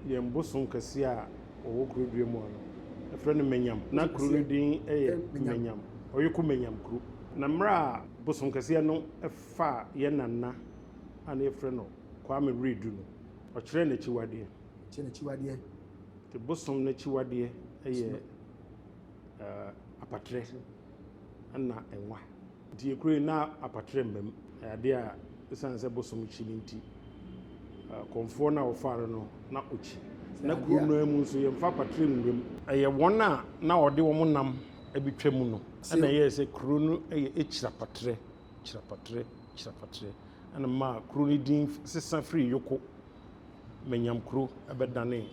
Yɛn bosom kɛseɛ a ɔwɔ kuro dua mu ha no, yɛfrɛ no Menyam. Na kuro no din yɛ Menyam, Ɔyoko Menyam kuro. Na mmerɛ a bosom kɛseɛ no faa yɛn nana a na yɛfrɛ no Kwame Redu no, ɔkyerɛɛ n'akyiwadeɛ. Ɔkyerɛɛ n'akyiwadeɛ. Nti bosom no akyiwadeɛ yɛ apatrɛ ɛna nwa. Enti yɛkura yi na apatrɛ mma mu. Ɛyɛ adeɛ a ɛsiane sɛ bosom kyi no nti, kɔmfoɔ no a wɔfaa no no, na ɔkyi. Na kuro no ara mu nso, yɛmfa apatrɛ nwura mu. Ɛyɛ wɔn a na wɔde wɔn nam bɛtwa mu no na ɛyɛɛ sɛ kuro no yɛ Akyirapatrɛ, Kyirapatrɛ, Kyirapatrɛ, na ɛmaa kuro no din sesa firii Yoko, Manyamkuro, bɛdanee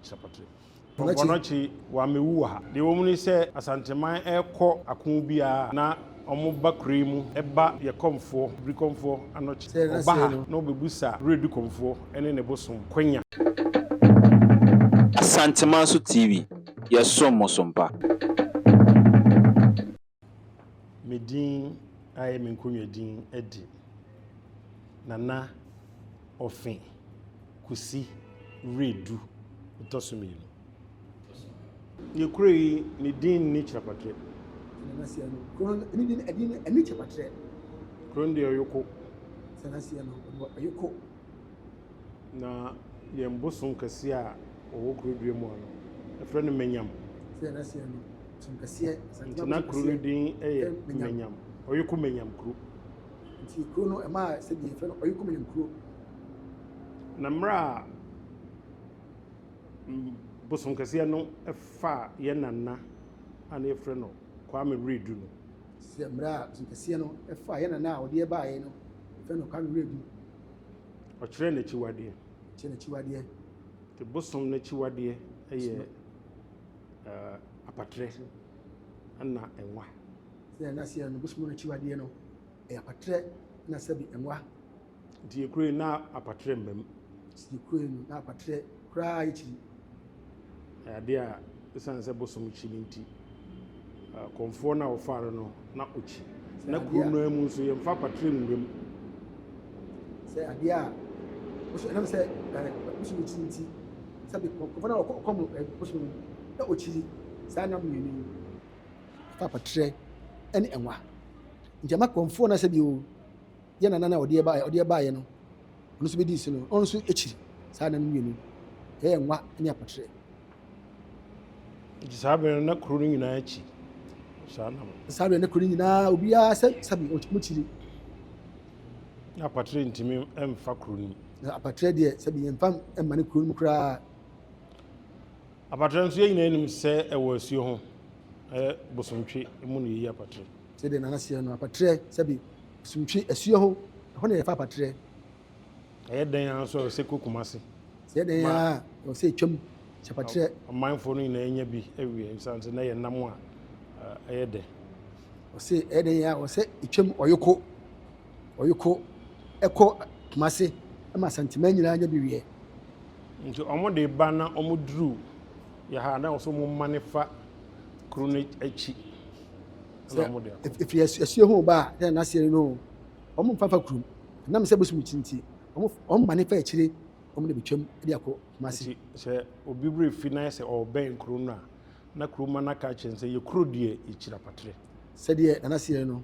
Kyirapatrɛ. Wɔbɔ no akyi, wammɛwu wɔ ha. Deɛ ɛwɔ mu ne sɛ, Asanteman rekɔ ako biara na wɔba kure mu ba Yɛkɔmfoɔ, Birikɔmfoɔ, anɔkye. Wɔba ha na wɔbɛbisa Wiredu Kɔmfoɔ ne ne bosom, Kwanya. Asanteman so TV, yɛsom mo so mpa. me din ayɛ me nkonnwa din adi. Nana Ofe Kusi Wiredu ɔtɔ so mmienu. Deɛ kuro yi ne din nni kyerɛpatrɛ. Sanaseɛ no, kuro no ne din ɛdin no ɛnni kyerɛpatrɛ. Kuro no deɛ ɔyoko. Sanaseɛ no, ɔyoko. Na yɛn bosom kɛseɛ a ɔwɔ kuro dua mu ha no, yɛfrɛ no Manyam. Nti na kuro no din yɛ Manyam, Ɔyeko Manyam kuro. Nti kuro no ɛma sɛdeɛ yɛfrɛ no Ɔyeko Manyam kuro. Na mmerɛ a bosom kɛseɛ no fa yɛn nana a na yɛfrɛ no Kwame Wiredu no. Sɛ mmerɛ a bosom kɛseɛ no fa yɛn nana a ɔde yɛn baeɛ no. Ɔfɛ nokware werɛ di. Ɔkyerɛ n'akyiwadeɛ. Ɔkyerɛ n'akyiwadeɛ. Te bosom n'akyiwadeɛ yɛ ɛɛ apatrɛ ɛna nwa. Sɛ ɛna seɛ no bosom n'akyiwadeɛ no ɛyɛ apatrɛ ɛna sɛbi nwa. Nti yɛ kure na apatrɛ mbam. Nti yɛ kure no na apatrɛ koraa yɛ kyiri. Ɛyɛ adeɛ a ɛsiane sɛ bosom kyi no nti, Kɔmfoɔ no a wɔfaa no no, na ɔkyi. Na kurom no ara mu nso, yɛmfa apatrɛ nwura mu. Sɛ adeɛ a bosom ɛnam sɛ bosom kyi nti, sɛ Kɔmfoɔ no a ɔkɔ mu bosom no, na ɔkyiri saa nam mmienu yi. Ɛfa apatrɛ ne nwa nti, ɛma Kɔmfoɔ no sɛ bio. yɛ nana no a ɔde baeɛ ɔde baeɛ no ɔno nso bɛdi si no ɔno nso akyiri saa nana no mmienu ɛyɛ nwa ne apotrɛ nti saa bɛn na kuro no nyinaa akyi saa nam saa bɛn na kuro no nyinaa obiara sɛ sabi ɔmo kyiri na apotrɛ ntumi mfa kuro no na apotrɛ deɛ sabi yɛmfa mma ne kuro no mu koraa apotrɛ nso yɛ nyinaa nim sɛ ɛwɔ asuo ho ɛyɛ bosontwe mu na yɛyi apotrɛ Sɛ dɛn na na seɛ no apatrɛ sɛbe suntwe asuo ho, ɛhɔ na yɛfa apatrɛ. Ɛyɛ dɛn ara nso a ɛwɔ sɛ ɛkɔ Kumasi. Sɛ dɛn ara a ɛwɔ sɛ ɛtwam hyɛ apatrɛ. Amanfoɔ no nyinaa nya bi awie ɛsiane sɛ na ɛyɛ nam a ɛyɛ dɛ. Ɔse ɛyɛ dɛn ara a ɛwɔ sɛ ɛtwam ɔyoko ɔyoko ɛkɔ Kumasi ma Asanteman nyinaa nya bi wie. Nti wɔde ba na wɔduru Yɛ ha na ɔsɛ ɔmo mane fa kuro no akyi na ɔmo de akɔ. Efiri asuo ho ba a yɛ n'aseɛ no no ɔmo mfa fa kurom ɛnam sɛ bosom akyi nti ɔmo ɔmo mane fa akyire ɔmo na betwam de akɔ Kumasi. Nti sɛ obi wura efi na yɛ sɛ ɔɔbɛn kuro no a na kuroma no aka akyerɛ no sɛ yɛ kuro deɛ yɛ kyiri apatere. Sɛdeɛ nanaseɛ no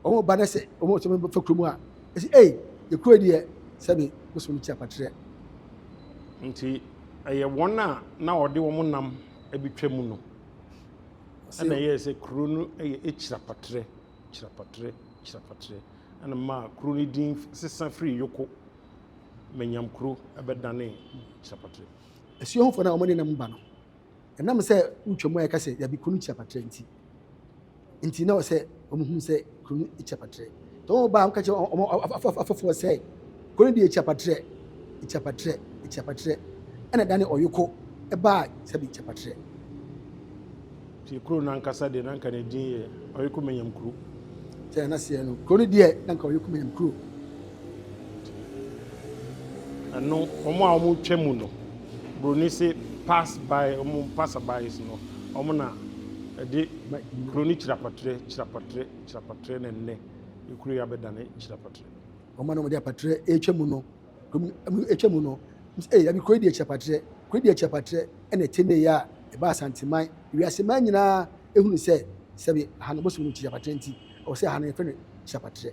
Wɔn ba no sɛ wɔn sɛ wɔbɛfa kurom a, ɛsɛ ei, yɛ kuro deɛ sɛbe bosom no ti akwakyerɛ. Nti ɛyɛ wɔn a na ɔde wɔn nam abɛtwa mu no ɛna ɛyɛɛ sɛ kuro no yɛ Ekyirapatrɛ, Kyirapatrɛ, Kyirapatrɛ ɛna maa kuro no din sesa firi Yoko Manyamkuro ɛbɛdanee Kyirapatrɛ. Asuahufoɔ no a wɔde nam ba no, Ɛnam sɛ wotwa mu a yɛka sɛ dabi kuro no kyia patrɛ nti nti na ɔsɛ wɔn hu sɛ kuro no kyia patrɛ. Tɔ wɔn baa wɔka kyerɛ wɔn afɔfoɔ sɛ kuro no deɛ kyia patrɛ kyia patrɛ kyia patrɛ ɛna dane ɔyoko baa sɛbi kyia patrɛ. Ti kuro no ankasa deɛ na nka ne din yɛ Ɔyoko Manyam kuro. Sɛ n'aseɛ no kuro no deɛ na nka Ɔyoko Manyam kuro. Ɛno wɔn a wɔn twa mu no broni se pass by wɔn passer bys no wɔn na ɛde broni kyirapatrɛ kyirapatrɛ kyirapatrɛ na nnɛ ekuro yi abɛdane kyirapatrɛ. Wɔn a na wɔde apatrɛ etwa mu no wɔn etwa mu no wɔn se ee yabi kuro yi deɛ kyirapatrɛ kuro yi deɛ kyirapatrɛ ɛna ɛte ne ya ɛba asanteman wiase man nyinaa ehunu sɛ sɛbi aha no bosom no kyirapatrɛ nti ɛwɔ sɛ aha no yɛfrɛ no kyirapatrɛ.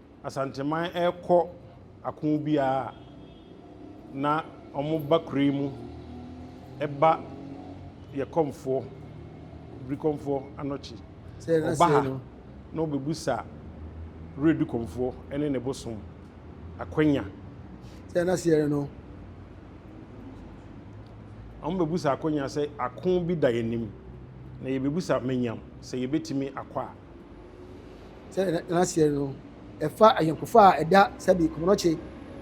Asanteman rekɔ ako biara a, na wɔba kuro yi mu ba yɛ kɔmfoɔ, birikɔmfoɔ anɔkye. Wɔba ha na wɔbɛbisa Wura Birikɔmfoɔ ne ne bosom Akwanya. Sɛ na seɛ no. Wɔbɛbisa Akwanya sɛ ako bi da yɛn anim, na yɛbɛbisa Manyam sɛ yɛbɛtumi akɔ a. Sɛdeɛ na aseɛ no, ɛfa ayɔnkofa a ɛda sɛbi Kɔmɔnɔkye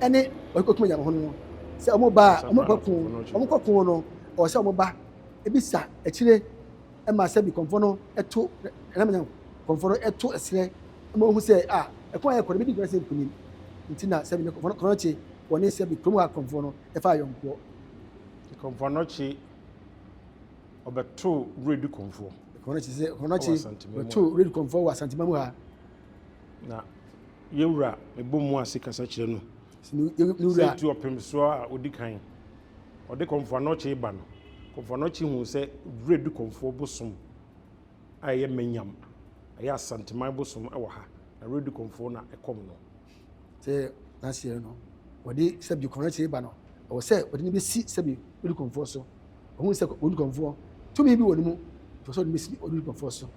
ne wɔkɔkum agya ho no sɛ wɔn ba a wɔn kɔko wɔn kɔko no ɔwɔ sɛ wɔn ba ebisa akyire ɛma sɛbi kɔnfɔ no ɛto ɛnam nyam kɔnfɔ no ɛto ɛserɛ ɛma wɔn ho sɛ a ɛkɔn a ɛkɔ no bi di nkɔla sɛ nkunim nti na sɛbi Kɔmɔnɔkye wɔn ne sɛbi kurom a kɔnfɔ no ɛfa ayɔnkoɔ. Kɔnfɔ no kye. ɔbɛtoo Redi Kɔmfoɔ. Kɔnɔkye sɛ kɔnɔkye bɛtoo Redi Kɔmfoɔ wɔ Asantema mu ha. Na yɛwura mebɔ mu ase kasa kyerɛ no. Sɛ tu ɔpem soɔ a ɔdi kan. Ɔde Kɔmfoɔ Anɔkye ba no. Kɔmfoɔ Anɔkye hu sɛ Redi Kɔmfoɔ bosom a ɛyɛ Manyam, ɛyɛ Asanteman bosom wɔ ha. Na Redi Kɔmfoɔ na ɛkɔm no. sɛ n'aseɛ no wɔde sɛbi kɔnɛkye ba no ɛwɔ sɛ wɔde no bɛsi sɛbi odikomfoɔ so ɔhu sɛ odikomfoɔ tumi bi wɔ ne mu ɛwɔ sɛ wɔde bɛsi odikomfoɔ so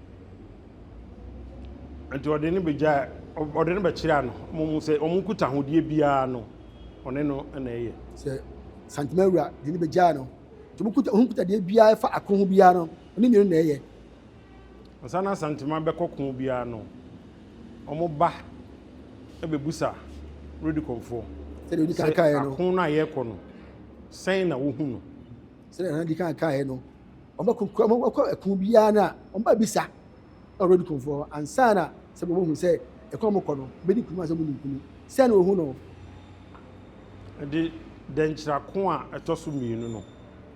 nti ɔde no bɛgya ɔde no bɛkyerɛ ano ɔmu sɛ ɔmu kuta ahodeɛ biara no ɔne no na ɛyɛ sɛ santema wura de no bɛgyaa no nti ɔmu kuta ɔhu kuta deɛ biara ɛfa ako ho biara no ɔne mmienu na ɛyɛ Ansa na Santima bɛkɔ ko biara no, wɔba bɛbusa Redcomfoɔ sɛ ako no a yɛrekɔ no, sɛn na wɔhu no. Sɛdeɛ na di kan kaeɛ no, wɔbɛkɔ ɛko biara no a, wɔba bisa na Redcomfoɔ ansa na sɛ wɔbɛhu sɛ ɛko a wɔkɔ no, bɛdi nkonim ansa wɔdi nkonim. Sɛn na wɔhu no. Ɛde dɛnkyerɛ ako a ɛtɔ so mmienu no.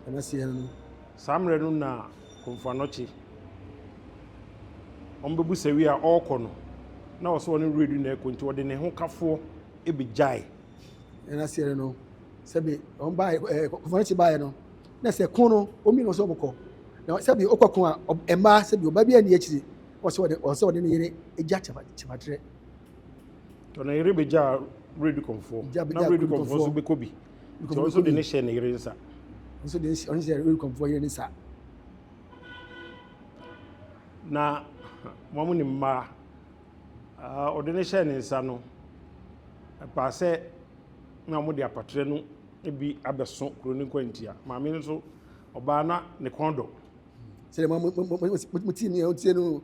Ɛna seɛ no. Saa mmerɛ no na. Komfoanɔkye. Wɔbɛbu sɛwie a ɔɔkɔ no na ɔsɛ ɔne werɛ du na ɛkɔ nti ɔde ne ho kafoɔ bɛgyae. Ɛna aseɛ no no sɛbi wɔn baa ɛɛ Komfoanɔkye baeɛ no na sɛ ko no wɔn mmienu wɔsɛ wɔkɔ na sɛbi ɔkɔ ko a ɛmaa sɛbi ɔbaa bi ani akyiri wɔsɛ ɔde ɔsɛ ɔde ne yere gya kyɛfa kyɛfatrɛ. Tɔ ne yere bɛgyaa werɛ du kɔmfoɔ na werɛ du kɔmfoɔ nso bɛkɔ bi. Nti ɔno nso de ne hyɛ ne yere nsa. Nso de ɔno hyɛ Rekonfoɔ yere ne nsa. Na wɔn ne mmaa ɔde ne hyɛ ne nsa no ɛpaa sɛ na wɔn de apatrɛ no bi abɛso kuro ne nkwantia. Maame no nso ɔbaa na ne kɔn dɔ. Sɛ mo mo mo mo mo ti ni ɛho tie no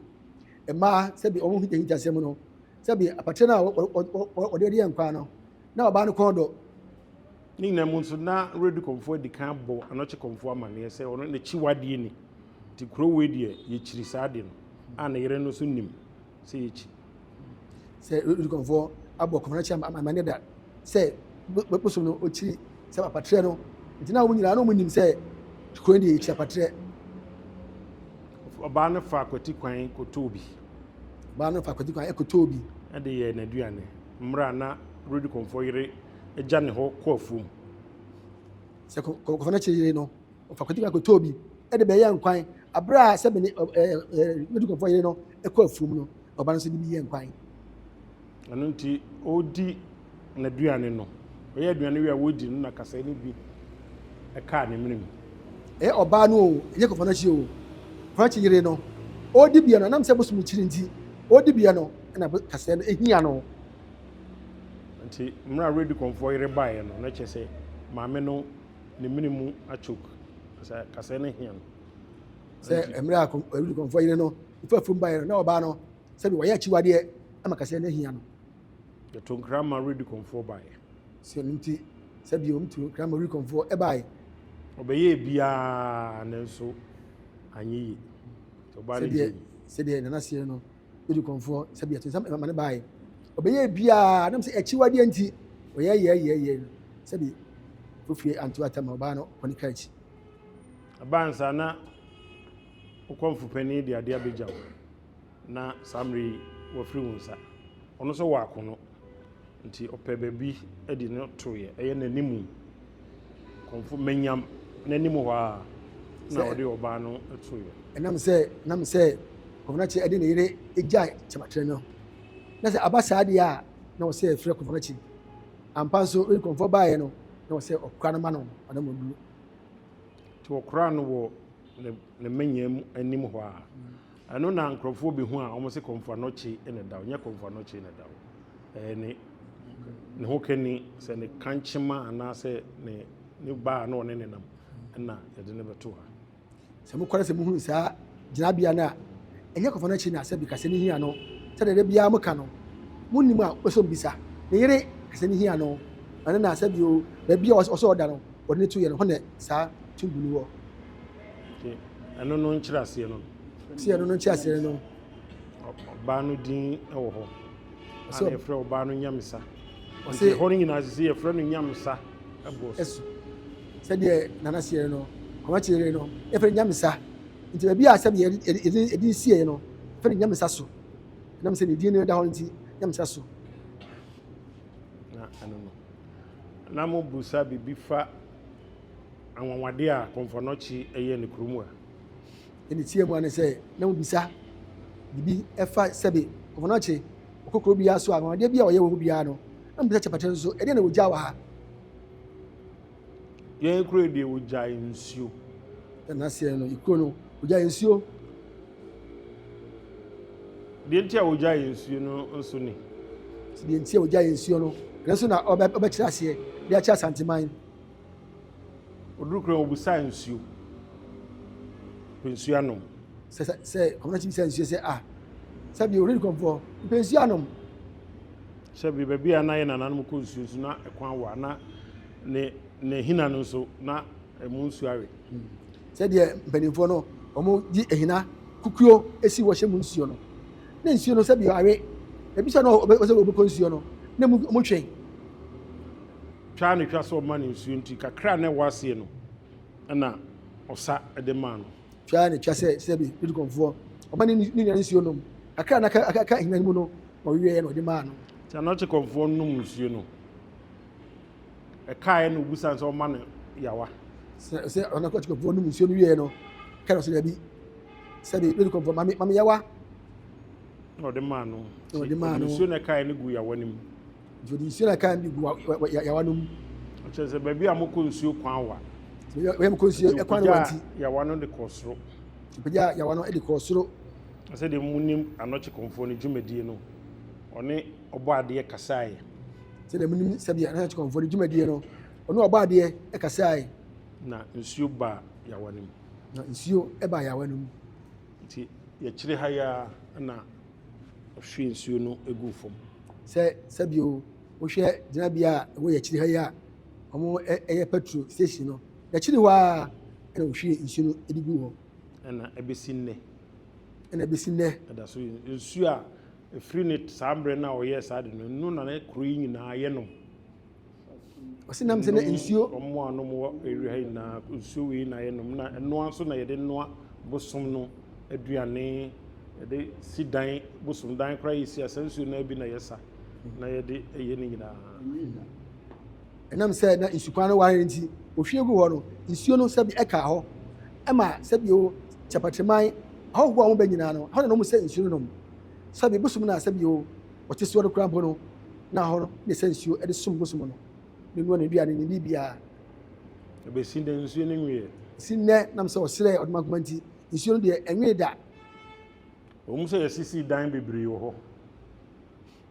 mmaa sɛbi wɔn ho hita hita sɛm no sɛbi apatrɛ no a ɔde ɔde yɛ nkwa no. na ɔbaa no kɔn dɔ. Ne nyinaa mu nso, na Redi Kɔmfoɔ adi kan abɔ Anɔkye Kɔmfoɔ amanneɛ sɛ ɔno n'akyiwadeɛ ni, nti kuro wei deɛ yɛkyiri saa adeɛ no, a ne yere no nso nim sɛ yɛkyi. Sɛ Redi Kɔmfoɔ abɔ Kɔmfɔnɔkye amanneɛ da sɛ bosom no ɔkyiri sɛ apatrɛ no, nti na wɔn nyinaa na wɔnim sɛ kuro deɛ yɛkyiri apatrɛ. Ɔbaa no fa akwati kwan kɔtɔɔ bi. Ɔbaa no fa akwati kwan kɔtɔɔ bi. De yɛɛ n'aduane. mmerɛ a na Rudi Kɔmfɔ yere gya ne hɔ kɔ afuom. Sɛ Kɔmfɔ no kyere yere no, ɔfa kɔtwi kwan kɔtɔɔ bi de bɛyɛɛ nkwan. Aberɛ a sɛ mene Rudi Kɔmfɔ yere no kɔ afuom no, ɔba no nso de bi yɛɛ nkwan. Ɛno nti, ɔredi n'aduane no, ɔyɛ aduane wie a ɔredi no na kasae no bi kaa ne mene mu. Ɛyɛ ɔbaa no o, ɛnyɛ Kɔmfɔ no akyi o, Kɔmfɔ no akyi yere no, ɔredi biɛ no, ɛnam sɛ bosom no kyiri nti, ɔredi biɛ no. na kaseɛ no hia no. Nti mmerɛ a Redikɔnfoɔ yere baeɛ no, na kyerɛ sɛ maame no ne mene mu akyok, sɛ kaseɛ no hia no. Sɛ mmerɛ a Redikɔnfoɔ yere no fa fam baeɛ no, na ɔbaa no sɛbi wɔyɛ akyiwadeɛ ama kaseɛ no hia no. Yɛto nkra ma Redikɔnfoɔ baeɛ. Sɛ no nti, sɛ bio mto nkra ma Redikɔnfoɔ ɛbaeɛ. Ɔbɛyɛɛ biaa nanso anyɛ yie. Sɛdeɛ Nana seɛ no. Wodi korɔmfoɔ sɛ bia tinsɛm ɛma ne baae. Ɔbɛyɛɛ biaa nam sɛ akyiwadeɛ nti. Ɔyɛɛyɛɛyɛɛyɛɛ no sɛ bi fofie anto atɛm ma ɔbaa no kɔ ne kaa akyi. Ɛbaa no saa na wo kɔmfo panin de adeɛ abɛgya wo na saa mmerɛ yi wafiri wo nsa. Ɔno nso wɔ akono. Nti ɔpɛ baabi de no toeɛ, ɛyɛ n'anim, kɔmfo manyam n'anim hɔ ara na ɔde ɔbaa no toeɛ. Ɛnam sɛ na me sɛ Kɔmfɔnakye de ne yere gyae Kyemakyerɛ no, na sɛ aba saa deɛ a na ɔsɛ ɛfrɛ Kɔmfɔnakye. Ampa nso when kɔmfɔ baeɛ no na ɔsɛ ɔkora no ma no ɔnammɔnduru. Nti ɔkoraa no wɔ ne manyam anim hɔ ara. Ɛno na nkurɔfoɔ bɛhu a wɔn se Kɔmfo Anokye na ɛda hɔ. Nyɛ Kɔmfo Anokye na ɛda hɔ. Ɛyɛ ne ne ho kani sɛ ne kankyema anaasɛ ne ne baa na ɔne ne nam na yɛde ne bɛto ha. Sɛ mokɔre sɛ mohunu saa gyinabea no a, ɛnyɛ Kɔmfo Anokye na sɛ bi kasɛ ne hia no. Sɛdeɛ da biara moka no, monnim a wopɛ sɛ ɔbisa ne yere kasɛ ne hia no. Ɛno na sɛ bi o, baabi a ɔsɛ ɔda no wɔde no to yɛ no, hɔ na saa tumbu no wɔ. Nti ɛno no nkyerɛaseɛ no. Sɛ ɛno no nkyerɛaseɛ no. Ɔbaa no din wɔ hɔ. So ana yɛfrɛ ɔbaa no Nyamesa. Nti ɛhɔ no nyinaa sisi yɛfrɛ no Nyamesa ɛboɔ so. Sɛdeɛ nana seɛ no kɔma kyerɛ no yɛfrɛ Nyamesa. Nti baabi a sɛbi yɛde sieɛ no fɛn Nyamesa so. Ɛnam sɛ ne din no da hɔ nti Nyamesa so. Na ɛno no na mo busa bibi fa. anwanwadeɛ a Kɔmfɔnɔkye yɛ ne kurom a. Deɛ meteaa mu ara ne sɛ na mobisa biribi fa sɛbe Kɔmfɔnɔkye ɔkɔ kuro biara so a, anwanwadeɛ bi a ɔyɛ wɔ hɔ biara no, na mobisa Kyɛpɛtɛ nso, ɛdeɛn na wɔgyaa wɔ ha? Yɛn kuro yi deɛ, wɔgyae nsuo. Na n'aseɛ no, kuro no, wɔgyae nsuo. Deɛ nti a wɔgyae nsuo no nso ni. Deɛ nti a wɔgyae nsuo no, ɛno nso na wɔbɛkyerɛ aseɛ de akyerɛ Asanteman. Ɔduru kurom no, ɔbisaa nsuo. Ɔpɛ nsuo anom. Sɛ sɛ sɛ kɔmɔnakyi bisaa nsuo sɛ a sɛ bi ɔredi kɔmfoɔ mpɛ nsuo anom. Sɛ bi baabi a na yɛ nananom kɔ nsuo nso na ɛkwan wɔ a na ne ne hina no nso na ɛmu nsuo awe. Hmm. Sɛdeɛ mpanimfoɔ no wɔn di ehina kukuo esi wɔhyɛ mu nsuo no ne nsuo no sɛbi awe ebi sɛ no wɔsɛ wɔbɛkɔ nsuo no ne mu wɔn twɛn twa ara na etwa sɛ ɔma no nsuo nti kakra a na ɛwɔ aseɛ no na ɔsa de maa no. Twa ara na etwa sɛ sɛbe Letikɔnfoɔ ɔma ne ne nua nsuo nom. Kakra a na aka aka ahina no mu no na ɔweweeɛ na ɔde maa no. Twa na Ɔkyekɔnfoɔ nom nsuo no. Ɛkaeɛ na ɔbusaa no sɛ ɔma no yawa. Sɛ sɛ ɔna Ɔkyekɔnfoɔ nom nsuo no wieeɛ no ka no sɛ dabi sɛbe Letikɔnfoɔ ma me ma me yawa. Na ɔde maa no. Na ɔde maa no. Ɔde nsuo na ɛkaeɛ no guu yawa no mu. Ɔde nsuo na kan de gu yawa no mu. Ɔkyerɛ sɛ baabi a mokɔ nsuo kwan wa. Baabi a mokɔ nsuo kwan wa nti. yawa no de kɔɔ soro. Ɔpagyaa yawa no de kɔɔ soro. Sɛdeɛ monim anɔkyekɔmfoɔ no dwumadie no, ɔne ɔbɔadeɛ kasaeɛ. Sɛdeɛ monim sɛdeɛ anɔkyekɔmfoɔ no dwumadie no, ɔne ɔbɔadeɛ kasaeɛ. Na nsuo baa yawa no mu. Na nsuo baa yawa no mu. Nti yɛkyere ha yi ara na Ɔhwie nsuo no guu fam. Sɛ sɛbio wohwɛ gyinabea a ɛwɔ yɛn akyiri ha yi a wɔyɛ petrol station no, n'akyiri hɔ ara na wɔhwie nsuo no de gu hɔ. Ɛna ɛbɛsi nnɛ. Ɛna ɛbɛsi nnɛ. Ɛda so nsuo a ɛfiri ne saa mmerɛ no a wɔyɛɛ saa de no, ɛno na na kuro yi nyinaa yɛnom. ɔsi nam sɛ na nsuo. wɔn a wɔn wɔ area ha nyinaa nsuo wei na yɛnom na ɛnoa nso na yɛde noa bosom no aduane yɛde si dan bosom dan koraa yɛsi asa nsuo no bi na yɛsa na yɛde ɛyɛ no nyinaa ɛnam sɛ na nsukwan no ware nti ohwie gu hɔ no nsuo no sɛbi ɛka hɔ ɛma sɛbi o kyapatiriman ahɔhoɔ a wɔn bɛ nyinaa no hɔ na wɔn sɛ nsuo no nom sɛbi bosom na sɛbi o ɔte soɔ no koraa mpo no, na ɛhɔ no na ɛsɛ nsuo de som bosom no. Ne noa n'aduane, ne biribiara. Ɛbɛsi nnɛ nsuo no nweeɛ. Si nnɛ nam sɛ ɔsrɛɛ ɔdomankoma nti, nsuo no deɛ ɛnwee da. Ɛwom sɛ yɛasisi dan bebree wɔ hɔ.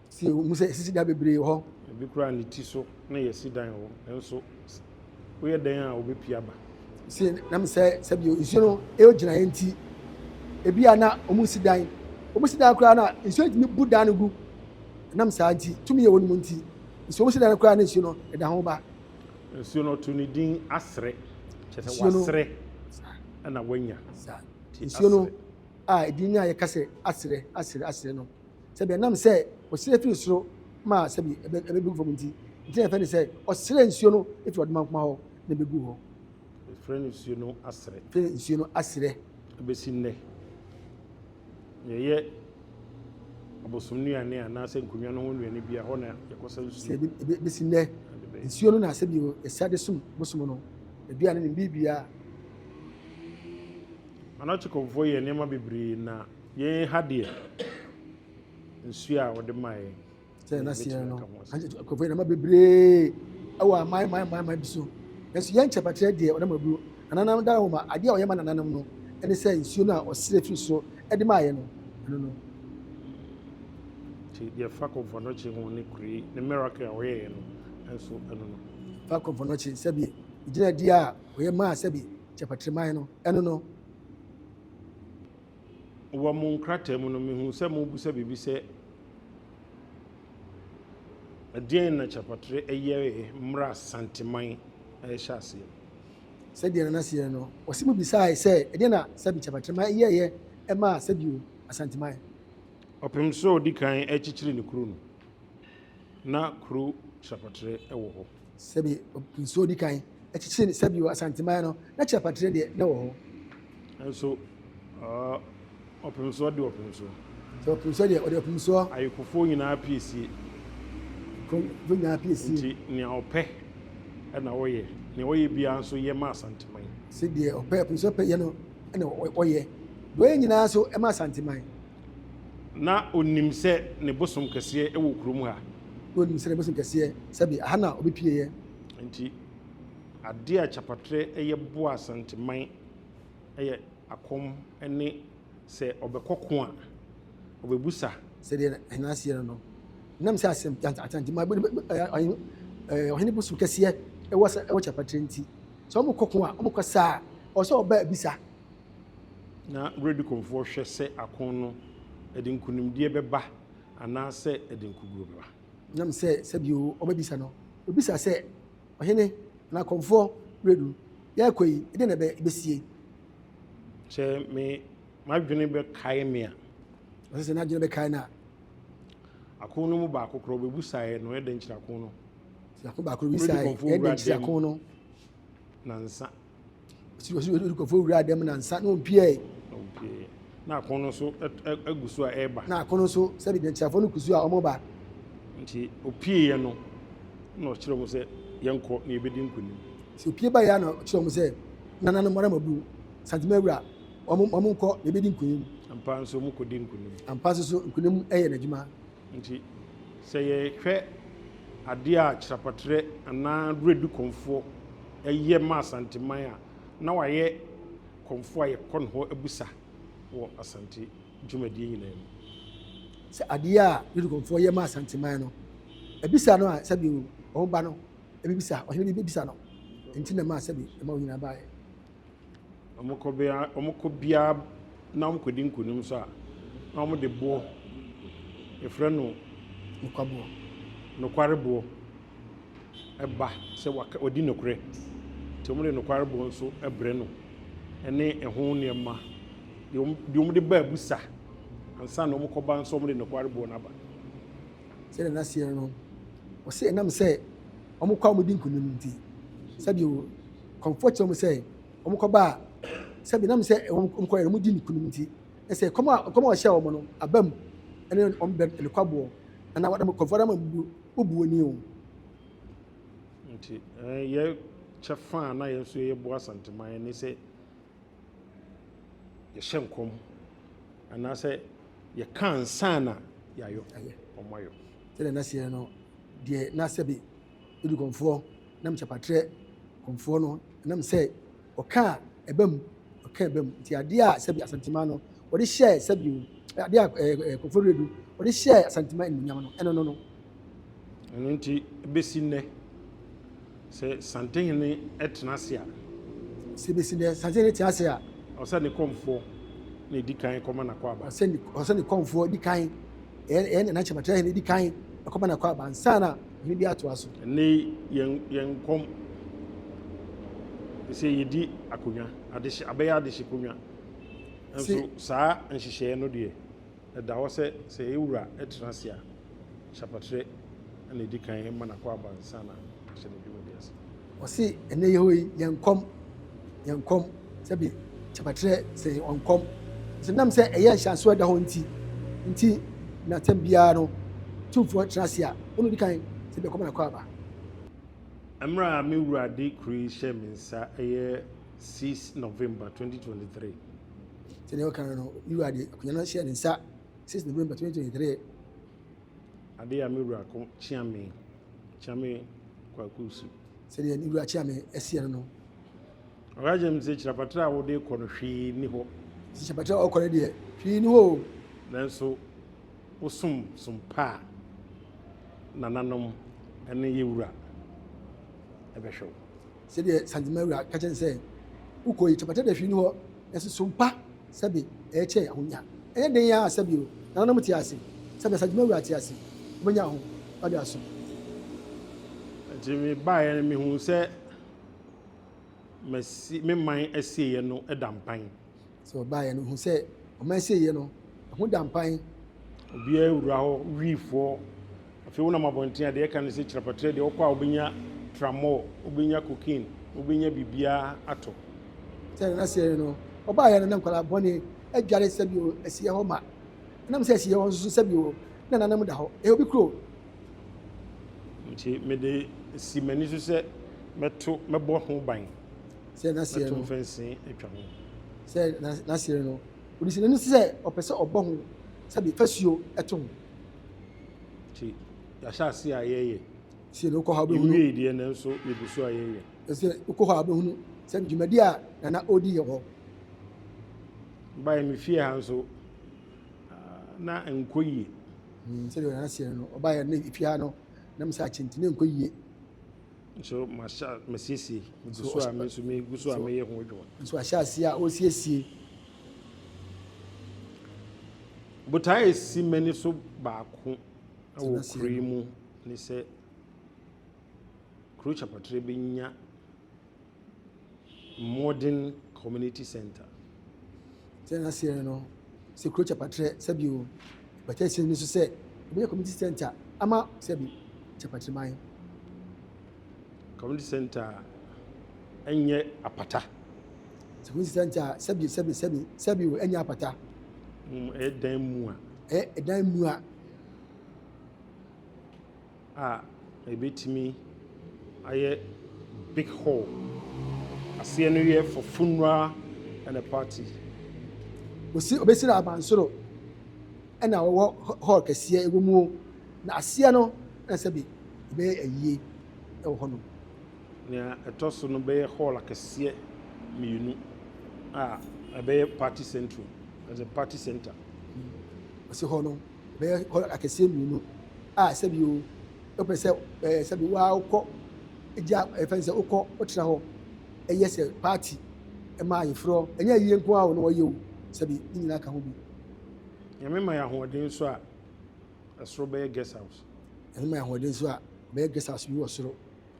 Si ɛwom sɛ yɛasisi dan bebree wɔ hɔ. Ebi koraa ne ti so na yɛasi dan wɔ hɔ, nanso. woyɛ dɛn a obepi aba. Se na me sɛ sɛ bio nsuo no ɛyɔ gyinaeɛ nti ebi a na wɔn nsi dan wɔn si dan koraa na nsuo ntumi bu dan no gu nam saa nti tumi yɛ wɔn mu nti nsuo wɔn si dan no koraa na nsuo no ɛda ho ba. Nsuo no ɔto ne din asere kyɛ sɛ wasere ɛna wanya. Nsuo no a edin a yɛka sɛ asere asere asere no. sɛbi ɛnam sɛ ɔsrɛ firi soro ma sɛbi ɛbɛgu fam nti nti na ɛfɛ ne sɛ ɔsrɛ nsuo no firi ɔdomankoma hɔ na ɛbɛgu hɔ ɛfrɛ no nsuo no asrɛ fɛ nsuo no asrɛ ɛbɛsi nnɛ yɛyɛ abosom nnuane anaasɛ nkonnwa no ho nnuane bia hɔ na yɛkɔsa nsuo ɛbɛsi nnɛ nsuo no na asɛ bio ɛsa de som bosom no aduane ne biribiaa anɔkyekɔmfoɔ yɛ nneɛma bebree na Yɛn ha deɛ, nsuo a wɔde ma yɛn. Sɛ ɛna seɛ no, nkurɔfoɔ yɛn ma bebree ɛwɔ aman man man man bi so. Nanso yɛn nkyɛpakyerɛ deɛ ɔnam aburo. Ananam da nwoma adeɛ a ɔyɛ ma nananom no ɛne sɛ nsuo no a ɔsrɛ firi soro ɛde maa yɛn no ɛno no. Nti deɛ fa kɔmfɔnɔkye ho ne kure ne miracle a ɔyɛ yɛn no nso ɛno no. Fa kɔmfɔnɔkye sɛbi gyina di a ɔyɛ maa sɛbi nkyɛpakyerɛ man no ɛno no. wɔ mo nkrataa mu no, mehu sɛ mobisa biribi sɛ, Ɛdeɛn na Kyerɛpɔtrɛ yɛeɛ mmerɛ a Santeman rehyɛ aseɛ no? Sɛdeɛ na n'aseɛ no, ɔse mobisaae sɛ, Ɛdeɛn na Sɛbi Kyerɛpɔtrɛ yɛeɛ maa Sɛbi o, Asanteman? Ɔpem so a ɔdi kan rekyekyere ne kuro no, na kuro Kyerɛpɔtrɛ wɔ hɔ. Sɛbi nsuo di kan kyekyere ne sɛbi wɔ Asanteman no, na kyerɛpatere deɛ na ɛwɔ hɔ. Nso ɔpemsoɔ de ɔpemsoɔ. Sɛ ɔpemsoɔ deɛ ɔde ɔpemsoɔ. Ayekofoɔ nyinaa piesie. Ayekofoɔ nyinaa piesie. Nti nea ɔpɛ na ɔyɛ, nea ɔyɛ biara nso yɛ ma Asanteman. Sɛ deɛ ɔpɛ, ɔpemsoɔ pɛ yɛ no na ɔyɛ, deɛ ɔyɛ nyinaa nso ma Asanteman. Na ɔnim sɛ ne bosom kɛseɛ wɔ kurom ha. Na ɔnim sɛ ne bosom kɛseɛ, sɛbe, ɛha na ɔbɛpueeɛ. Enti adeɛ a kyapatrɛ yɛ boa Asanteman yɛ akɔm ne sɛ ɔbɛkɔ ko a, ɔbɛbusa. Sɛ deɛ Ahina aseɛ no no, ɛnam sɛ Asanteman ɔhene bosom kɛseɛ wɔ kyapatrɛ nti, sɛ wɔkɔ ko a, wɔkɔ saa a, ɔwɔ sɛ ɔba bisa. na Radicalfoɔ hwɛ sɛ ako no ɛde nkunimdie bɛba anaasɛ ɛde nkoguo bɛba. Nam sɛ sɛbio ɔbɛbisa no, ɔbisa sɛ, Ɔhene, anaa kɔmfoɔ Redu, yɛrekɔ yi, ɛdeɛn na ɛbɛsie? Sɛ me m'adwene bɛkae me a. Ɔsɛ sɛ n'adwene bɛkae no a. Ako no mu baako korɔ bɛbusaeɛ no, ɛdɛn kyerɛ ako no? Sɛ ako baako bisaeɛ, ɛdɛn kyerɛ ako no? Nansa. Ɔsi ɔsi ɔsi kɔfo wura dɛm na nsa na ɔmpiae. Na akono nso agu so a ɛreba. Na akono nso sɛbi nkyerɛfoɔ no gu so a wɔba. Nti ɔpieeɛ no na ɔkyerɛ wɔn sɛ yɛnkɔ na yɛbɛdi nkonim. Sɛ ɔpie baeɛ a na ɔkyerɛ wɔn sɛ nananom ara mabu santima awura wɔn nkɔ na yɛbɛdi nkonim. Ampa nso wɔkɔdi nkonim. Ampa nso so nkonim yɛ n'adwuma. Nti, sɛ yɛhwɛ adeɛ a kyerɛpatrɛ anaa Werɛdi Kɔmfoɔ yɛ ma Asanteman a, na wayɛ kɔmfoɔ a yɛkɔ ne hɔ bisa wɔ Asante dwumadie nyinaa mu. Sɛ adeɛ a Werɛdi Kɔmfoɔ yɛ ma Asanteman no, ɛbisa no a, sɛbi o, wɔn ba no bɛbisa, ɔhene bi bɛbisa no. Nti na ɛmaa sɛbi ɛmaa wɔn nyinaa baeɛ. wɔkɔ bia wɔkɔ biara na wɔkɔdi nkunim so a, na wɔde boɔ, yɛfrɛ no Nokwaboɔ. nokwareboɔ ba sɛ waka wadi nokorɛ. Nti wɔde nokwareboɔ nso brɛ no ne ɛho nneɛma. Deɛ wɔn deɛ wɔde ba abusa ansa na wɔkɔba nso wɔde nokwareboɔ no aba. Sɛdeɛ na seɛ no, wɔse ɛnam sɛ wɔkɔ a wɔdi nkunim nti, sɛdeɛ o. Kɔmfoɔ kyerɛ wɔn sɛ wɔkɔba a, sɛ menam sɛ wɔkɔyɛ no wɔdi no kunim nti, na sɛ kɔm a kɔm a ɔhyɛ wɔn no aba mu ne wɔn bɛn ne kwaboɔ, na na wɔdam kɔmfoɔ dam abubu wobuo ni o. Nti yɛ kyɛ fa a na yɛn nso yɛbɔ Asanteman ne sɛ yɛhyɛ nkɔm anaasɛ yɛka nsa na yɛayɔ wɔn ayɔ. Sɛdeɛ na seɛ no deɛ na sɛbe. odi kɔmfoɔ nam kyɛpatrɛ kɔmfoɔ no nam sɛ ɔka a ɛba mu ɔka ɛba mu nti adeɛ a sɛbi asanteman no wɔde hyɛɛ sɛbi adeɛ a ɛɛ eh, eh, kɔmfoɔ redu wɔde hyɛɛ asanteman nnunyam no ɛno no no. ɛno nti ebesi nnɛ sɛ santehene ɛtena ase a. sɛ ebesi nnɛ santehene tena ase a. ɔsɛ ne kɔmfoɔ na edi kan kɔma n'akɔ aba. ɔsɛ ne ɔsɛ ne kɔmfoɔ di kan ɛyɛ ɛyɛ ne n'akyɛpatrɛ hene di kan ɛkɔma n'akɔ aba nsa na. Ɔhene bi atoa so. Ɛnnɛ yi, yɛn yɛn kɔm te sɛ yɛdi akonnwa, adehye abɛyɛ adehyekonnwa. Nanso saa nhyehyɛeɛ no deɛ, ɛda hɔ sɛ sɛ yɛn Wura tena ase a, ahyɛpatrɛ na ɛdi kan ma no akwaaba ansa na ahyɛ ne dwumadi ase. Ɔse ɛnɛ yɛ hɔ yi yɛ nkɔm yɛ nkɔm sɛbi kyabatrɛ sɛ yɛ ɔnkɔm nso nam sɛ ɛyɛ nhyɛnso ɛda hɔ nti nti na tɛm biara no tumfoɔ tena ase a ɔno di kan sɛ bi ɛkɔm na kɔ aba. Mmerɛ a me wura de kuro yi hyɛɛ me nsa ɛyɛ six November twenty twenty three. Sɛdeɛ ɔka no no, me wura de akonnwa no hyɛɛ ne nsa six November twenty twenty three. Ade a me wura ko Kyeame, Kyeame Kwaku su. Sɛdeɛ me wura Kyeame seɛ no no. Ɔka kyerɛ me sɛ kyirapatra a wode kɔ no hwee ni hɔ. Sɛ kyirapatra a ɔkɔ no deɛ hwee ni hɔ o. Nanso wosom som pa a nananom ne yɛ wura bɛhwɛ wo. Sɛdeɛ Santima wura ka kyerɛ no sɛ wokɔ yi kyirapatra deɛ hwee ni hɔ nanso som pa. sɛbe ɛɛkyɛɛ ahonya. Ɛnyɛ den ara sɛ bio nananom te ase, sɛbe asadwuma wura te ase, wobɛnya ahofadi asom. Nti me baeɛ no mehuu sɛ masi me man asieɛ no da mpan. Sɛ ɔbaeɛ no ɔhuu sɛ ɔman asieɛ no ɛho da mpan. Obiara wura hɔ wiifoɔ. Afei wonam abɔnten a, deɛ ɛka ne sɛ kyerɛpɛtrɛ deɛ wokɔ a wobɛnya tramɔɔ, wobɛnya cocaine, wobɛnya biribiara atɔ. Sɛdeɛ na seɛ no, ɔbaeɛ no na nkwadaa bɔne adware sɛbio asieɛ hɔ ma. Ɛnam sɛ asieɛ hɔ nso so sɛbio na nananom da hɔ, ɛyɛ obi kuro. Nti mede si m'ani so sɛ mɛto, mɛbɔ ho ban, Sɛdeɛ na seɛ mɛto no, mfɛnsee atwa ho. sɛdeɛ na seɛ no, ɔde si n'ani so sɛ ɔpɛ sɛ ɔbɔ ho sɛbio fasuo to ho. Nti yɛahyɛ ase a yɛyɛ. Sɛ wokɔ hɔ a wobɛhunu. Yɛwie deɛ nanso yɛgu so a yɛyɛ. Sɛ wokɔ hɔ a wobɛhunu sɛ dwumadi a nana ɔdi yɛ hɔ. Baeɛ me fie ha nso na nkɔ yie. Hmm, sɛdeɛ nana seɛ no ɔbaeɛ ne fie ha no na mesɛ akye nti ne nkɔ yie. Nso masiesie megu so a me nso megu so a meyɛ ho adwuma. Nso ahyɛ aseɛ a ɔsiesie Botae a esi m'ani so baako wɔ kurow yi mu ne sɛ kurow Kyerɛpɔtrɛ benya modern community centre. Sɛ n'aseɛ no sɛ kurow Kyerɛpɔtrɛ sɛbi o botae esi m'ani so sɛ ɛbɛyɛ community centre ama sɛbi Kyerɛpɔtrɛ man. Community centre a ɛnyɛ apata. Community centre a sɛbi sɛbi sɛbi sɛbi o ɛnyɛ apata. Mm, ɛyɛ dan mu a. Ɛyɛ dan mu a. A ɛbɛtumi ayɛ big hall. Aseɛ no yɛ for funeral and a party. Osi obesira abansoro. na ɔwɔ hɔɔl kɛseɛ ɛwɔ mu o, na aseɛ no na sɛbe yɛbɛyɛ ayie wɔ hɔnom. Nea ɛtɔ so no bɛyɛ hɔɔl akɛseɛ mmienu a ɛbɛyɛ party central, as a party centre. Ɔse hɔ no bɛyɛ hɔɔl akɛseɛ mmienu a sɛbe o wopɛ sɛ ɛɛ sɛbe waa wokɔ gya ɛfɛ ne sɛ wokɔ wotena hɔ ɛyɛ sɛ party ɛma ayeforɔ ɛnyɛ ayie nko ara o na wɔyɛ o sɛbe ne nyinaa ka ho bi. Nyame ma yɛ ahoɔden so a, ɛsoro bɛyɛ guest house. Nyame ma yɛ ahoɔden so a, bɛyɛ guest house bi wɔ soro.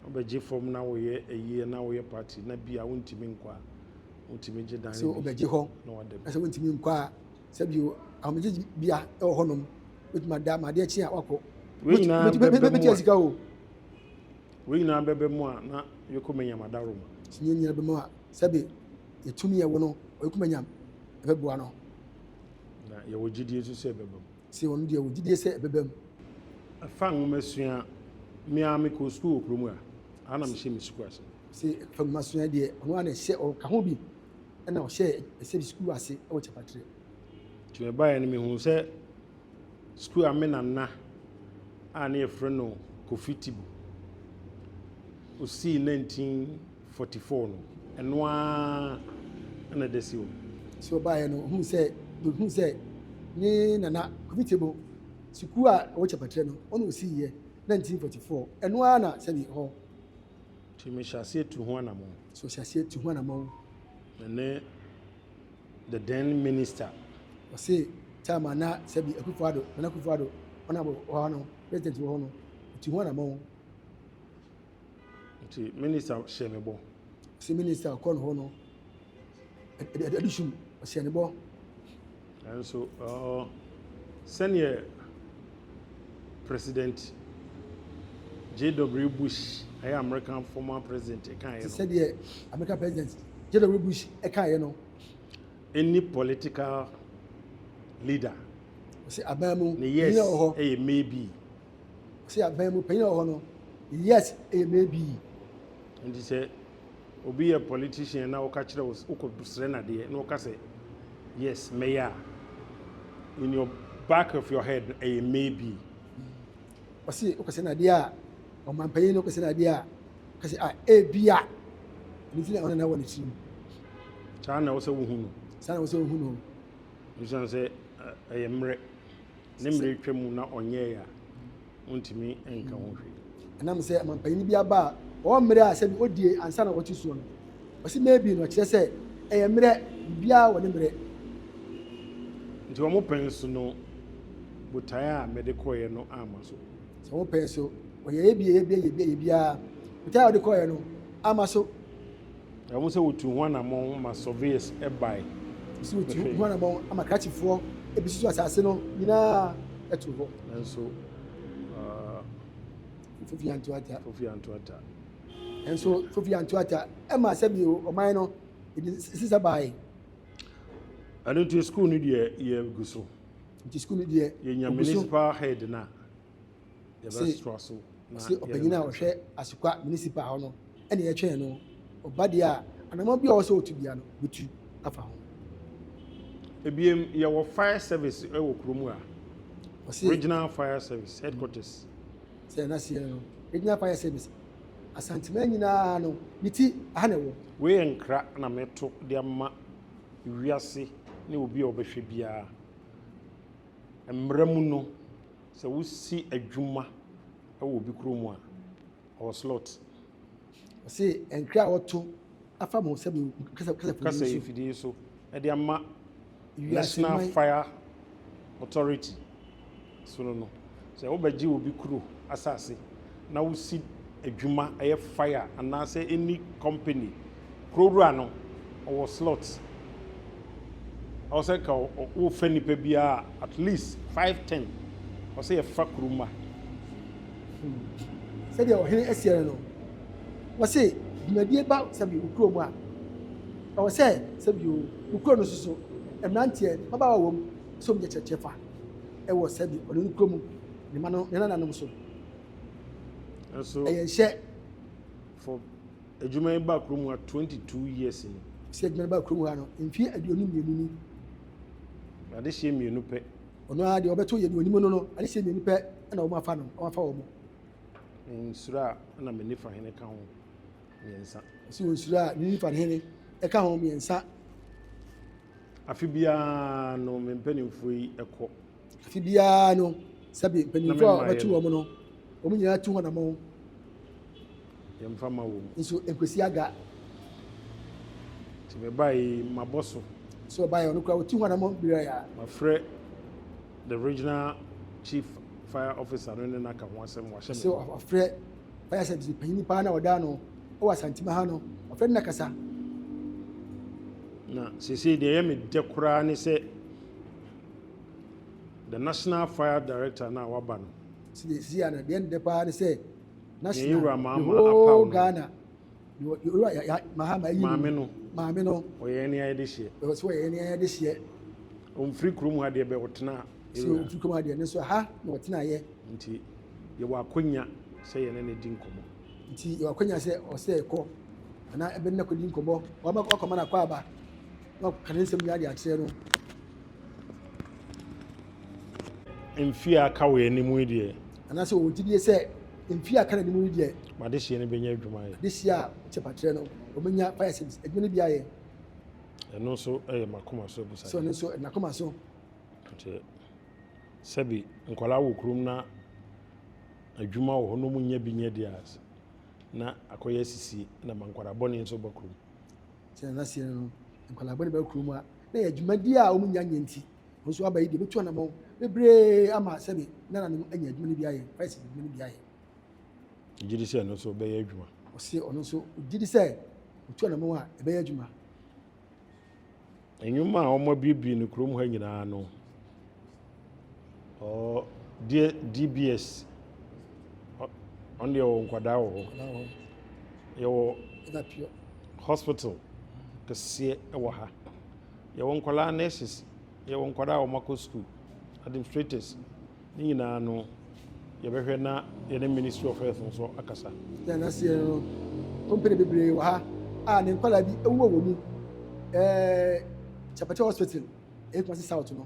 Wobɛgye fam na woyɛ ayie na woyɛ party na bi a wontumi nkɔ a, wotumi gye dan no bi. Sɛ wobɛgye hɔ na sɛ wontumi nkɔ a, sɛ bio ahomegye bia ɛwɔ hɔnom, wotumi ada ma adeɛ kye a wakɔ. Wei nyinaa bɛbɛ mu a, wei nyinaa bɛbɛ mu a na yɛkɔ manyam adaro mu. Sɛ nyɛ nyinaa bɛbɛ mu a, sɛbe yɛtumi yɛ wɔ no, ɔyɛkɔ manyam ɛbɛboa no. Na yɛwɔ gyidie nso sɛ ɛbɛba mu. Sɛ ɔno deɛ, yɛwɔ gyidie sɛ ɛbɛba mu. Ɛfa nwomasua, Me ara mekɔɔ sukuu wɔ kuro mu a, ha na mehyɛ me sukuu ase. Sɛ ɛfa nwomasua deɛ, ɔno ara na ɛhyɛ, ɔka ho bi na ɔhyɛɛ ɛsɛ sukuu ase wɔ Kyapatrɛ. Nti mebaeɛ no, mehuu sɛ. skuul a me nana a ne yɛfrɛ no Kofi Tibu osii 1944 no, ɛno ara na ɛda si hɔ. Sɛ ɔbaeɛ no, ɔhunu sɛ, ɔhunu sɛ ne nana Kofi Tibu sukuu a ɛwɔ Kyɛpatrɛ no, ɔna osiiɛ 1944, ɛno ara na sɛdeɛ hɔ. Nti mehyɛ aseɛ tu ho anamɔn. So hyɛ aseɛ tu ho anamɔn. Ɛnɛ the then minister. Ɔse time a na sɛbi Akufo Addo, Nana Akufo Addo, ɔna wɔ hɔ no, president wɔ hɔ no, ɔtu ho anamɔn. Nti minister hyɛ ne bɔ. Ɔse minister ɔkɔ ne hɔ no, ɛde sum, ɔhyɛ ne bɔ. Nanso, sɛdeɛ President JW. Bush, ɛyɛ Amerika former president, kaeɛ no. Sɛdeɛ Amerika President JW. Bush kaeɛ no. Any political leader. Ɔsɛ aban mu ne yes wɔ hɔ. ɛyɛ maybe. Ɔsɛ aban mu panyin wɔ hɔ no yes ɛyɛ maybe. Nti sɛ Obi yɛ politician na ɔka kyerɛ wo wokɔ srɛ no adeɛ na ɔka sɛ yes mɛyɛ a in your back of your head no ɛyɛ maybe. Ɔse wokɔ srɛ no adeɛ a ɔmanpanyin no wokɔ srɛ no adeɛ a ɔka sɛ ah ebi a ɛno nti na ɔna na wɔ n'akyiri mu. Saa na ɛwɔ sɛ wohu no. Saa na ɛwɔ sɛ wohu no. Ɛsiane sɛ ɛyɛ mmerɛ ne mmerɛ atwa mu na ɔnyɛɛ a wontumi nka ho hwee. Ɛnam sɛ amanpanyin bi aba a ɔwɔ mmere a sɛbi odie ansa na ɔte soɔ no, ɔse maybe no ɔkyerɛ sɛ ɛyɛ mmerɛ, biribiara wɔ ne mmerɛ. Nti wɔn pɛn so no botaeɛ a mede kɔeɛ no amma so. Sɛ wɔn pɛn so, wɔyɛeɛ bi, yɛeɛ bi, yɛeɛ bi, yɛeɛ biara, botaeɛ a wɔde kɔeɛ no amma so. Ɛwom sɛ wotuu ho anammɔn ma surveyors bae. Ɛwom sɛ wotuu ho anammɔn ma krakyefoɔ besusu asase no nyinaa too hɔ. Nanso, Fofi Anto Atta. Fofi Anto Atta. Nanso, Fofi Anto Atta ɛmaa sɛbio ɔman no ɛde nsesa bae. Ɛno nti, sukuu no deɛ yɛgu so. Nti sukuu no deɛ yɛnya municipal head no a. Ɔse ɔse ɔpanyin a ɔhwɛ Asukwa Municipal hɔ no ɛna ɛtwɛn no, ɔba deɛ a anamɔ biara a ɔsɛ ɔtu biara no ɔbɛtu afa ho. Ebiem, yɛwɔ fire service wɔ kuro mu a, Ɔse regional fire service headquarters. sɛ na seɛ no regional fire service Asanteman nyinaa no ne ti ɛha na ɛwɔ. Wei yɛ nkra na meto de ama wiase ne obi a ɔbɛhwɛ biara. Mmara mu no, sɛ wosi adwuma wɔ obi kurom a, ɔwɔ slot. Ɔse ntwerɛ a wɔto afa mo nsɛm kasafidie so. Kasafidie so de ama National Fire Authority so no no. Sɛ wobɛgye obi kuro asase na wosi adwuma ɛyɛ fire anaasɛ any company kuro wura no ɔwɔ slot ɔwɔ sɛ nka wofa nipa biara at least five ten ɔwɔ sɛ yɛfa kuro ma. Sɛdeɛ ɔhene asiɛ no no wɔse dwumadie ba sɛbi wo kuro mu a ɛwɔ sɛ sɛbi wo kuro no soso mmeranteɛ mmabaawa wɔ mu sɛ wɔn gye kyerɛkyerɛ fa. wɔ sɛdeɛ ɔne no kura mu, ne mma no, ne nananom so. Nanso, ɛyɛ nhyɛ. For adwuma yi ba kurom ha 22 years ni. Sɛ adwuma yi ba kurom ha no, mfeɛ aduonu mmienu ni. Adehyeɛ mmienu pɛ. Ɔno ara deɛ ɔbɛto yɛ ne onimu no no, adehyeɛ mmienu pɛ na wɔn afa no, wɔn afa wɔn. Nsuro a na me nifa hene ka ho mmiɛnsa. Ɔsi wɔn nsuro a ne nifa hene ka ho mmiɛnsa. Afe biara no, me mpanimfoɔ yi kɔ. Afe biara no, sɛbe mpanimfoɔ a wɔbɛto wɔn no, wɔn nyinaa tu wɔn amɔn. Yɛmfa ma wɔn. Nso nkwasi aga. Nti mebae mabɔ so. Nso ɔbae ɔno koraa wɔtu wɔn amɔn bere a. Mafrɛ the regional chief fire officer no ne no aka ho asɛm wɔahyɛ me. Nso ɔfrɛ. Ɔyɛ asɛntenenee panyin paa na ɔdaa no wɔ Asantima ha no. Ɔfrɛ no na kasa. Na sesei deɛ ɛyɛ me dɛ koraa ne sɛ the national fire director no a waba no. Sesei a na deɛ ne dɛ paa ne sɛ national the whole Ghana. Maame no. Maame no. Ɔyɛ ɛne ayɛ de hyeɛ. Ɛwɔ sɛ ɔyɛ ɛne ayɛ de hyeɛ. Ɔmfiri kurom ha deɛ bɛ ɔtena. Sɛ ɔmfiri kurom ha deɛ ne nso ha na ɔtena yɛ. Nti yɛwɔ akwanya sɛ yɛne ne di nkɔmmɔ. Nti yɛwɔ akwanya sɛ ɔsɛ ɛkɔ anaa ɛbɛ ne kɔdi nkɔmmɔ. Wama wakɔma no akɔ aba na ɔka ne nsɛm nyinaa de akyerɛ no. Mfie a aka wɔ yɛn anim yi deɛ Anaasɛ wɔwɔ gyidie sɛ mfeɛ a aka no anim no deɛ. M'adehyeɛ no bɛnya adwuma ayɛ. Adehyeɛ a kyɛfakyerɛ no wɔbɛnya fire service adwuma no bi ayɛ. Ɛno nso yɛ m'akoma so abusadeɛ. Sɛ ɔno nso ɛde n'akoma so. Nti sɛbi nkwadaa wɔ kurom na adwuma wɔ hɔ na wɔn nyɛ bi nyɛ deɛ a na akɔyɛ asisie na ma nkwadaa bɔne nso ba kurom. Sɛ nanaseɛ no no nkwadaa bɔne ba kurom a na yɛ adwuma deɛ a wɔn nya nyɛ nti. Wɔn nso aba yi deɛ bɛtu anamɔn bebree ama sɛbe nananom anya adwuma no bi ayɛ, Christ adwuma no bi ayɛ. Gye di sɛ ɛno nso bɛyɛ adwuma. Ɔse ɔno nso gye di sɛ ɔtu anamɔn a ɛbɛyɛ adwuma. Nnwuma a wɔabiebie no kurom ha nyinaa no, ɔ deɛ DBS ɔno deɛ ɔwɔ nkwadaa wɔ hɔ. Yɛwɔ hospital kɛseɛ wɔ ha. Yɛwɔ nkwadaa nurses, yɛwɔ nkwadaa a wɔakɔ sukuu, administrators. Ne nyinaa no, yɛbɛhwɛ na yɛne Ministry of Health nso akasa. Yɛn aseɛ no, company bebree wɔ ha a ne nkwadaa bi wɔ wɔn mu. Ɛɛ Kyapɛkyɛ Hospital, ɛyɛ Kumasi South no.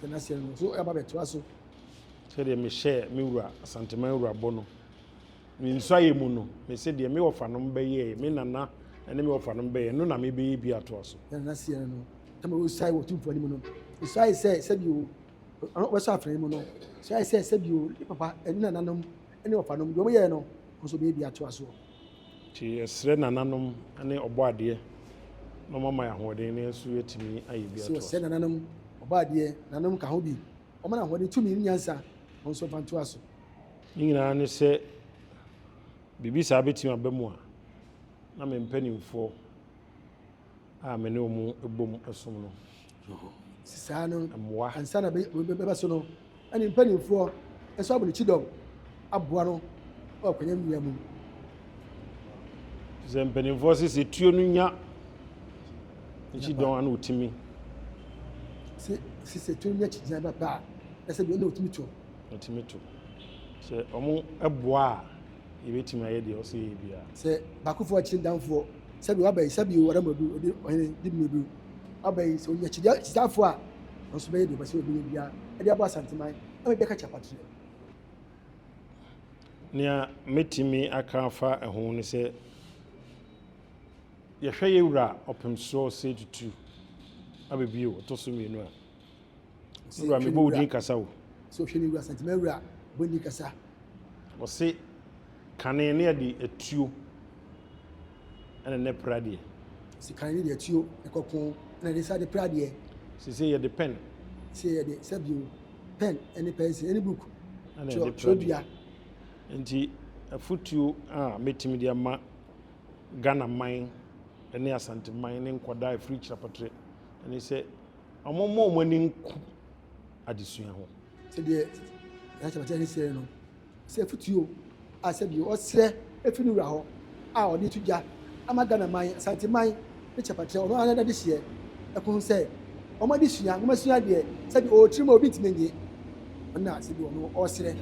tena ase no so ɛba bɛtoa so. Sɛdeɛ mehyɛɛ me wura Asanteman wura bɔ no, me nsuayɛ mu no, mese deɛ me wɔfanom bɛyɛɛ, me nana ne me wɔfanom bɛyɛɛ no na mebɛyɛ bi atoa so. Tena ase no no, tama wɔsuae wɔ tumfoɔ anim no, mesuae sɛ sɛbio wɔbɛsɔ afena yi mu no, suae sɛ sɛbio ne papa ne nananom ne ɔfa nom, deɛ wɔyɛɛ no kɔ so bɛyɛ dua toa soɔ. Nti yɛsrɛ nananom ne ɔbɔadeɛ na wɔn ama yɛn ahoɔden na yɛn nso yɛatumi ayɛ dua toa soɔ. Wɔsrɛ nananom, ɔbɔadeɛ, nananom ka ho bi, wɔn ahoɔden, tumi ne nyansa, wɔn nso mfa ntoa so. Ne nyinaa ne sɛ biribi saa bɛtumi aba mu a, na me mpanimfoɔ a me ne wɔn bom som no. saa no mmoa ansa na bɛba so no ɛne mpanimfoɔ ɛsɔ abɔ ne kyidɔm aboa no wɔ akwanya nnua mu sɛ mpanimfoɔ sɛ sɛ tuo no nya nkyidɔn ana ɔtumi sɛ sɛ tuo no nya kyigyina ba paa ɛsɛ bi ɛna ɔtumi to ɔtumi to sɛ ɔmo ɛboa a yɛbɛtumi ayɛ deɛ ɔsɛ yɛyɛ biara. Sɛ baakofoɔ akyiri ndanfoɔ sɛbi waba yi sɛbi wara mu adu ɔde ɔhene di mu edu waba yi sɛ ɔnya kyidi kyidaafoɔ a ɔnso bɛyɛ deɛ ɔbɛsɛ ɔbɛnya biara ɛde abɔ asanteman ɛma bi aka kyɛ apateɛ. Nea mɛtumi aka afa ɛho ne sɛ yɛhwɛ yɛ wura ɔpem soɔ sɛ tutu abɛbio ɔtɔ so mmienu a. Ɔse hwɛ ne wura kasa o. Ɔse ɔhwɛ ne wura santima wura bɔ ni kasa. Ɔse kane ne ɛde atuo ɛna ne pradeɛ. Ɔse kane ne de atuo ɛkɔ ko ɛna ɛde sa de pradeɛ. Sese yɛde pɛn. Sese yɛde sɛbio pɛn ɛne pɛnsi ɛne book twerɛdua. Nti afutuo a mɛtumi de ama Ghana man ne Asanteman ne nkwadaa ɛfiri kyerɛpɔtrɛ ɛne sɛ Wɔmmɔ wɔn ani nku adesua ho. Sɛdeɛ Yahya Matare no seɛ no, sɛ afutuo a sɛdeɛ ɔsrɛ firi ne wura hɔ a ɔde to dwa ama Ghana man, Asante man ne kyɛfakyɛ ɔno ara n'adehyeɛ ɛko ho sɛ wɔn adesua nwoma sua deɛ sɛdeɛ ɔwɔ tirim a obi ntumi nye ɔno na sɛdeɛ ɔno ɔsrɛ.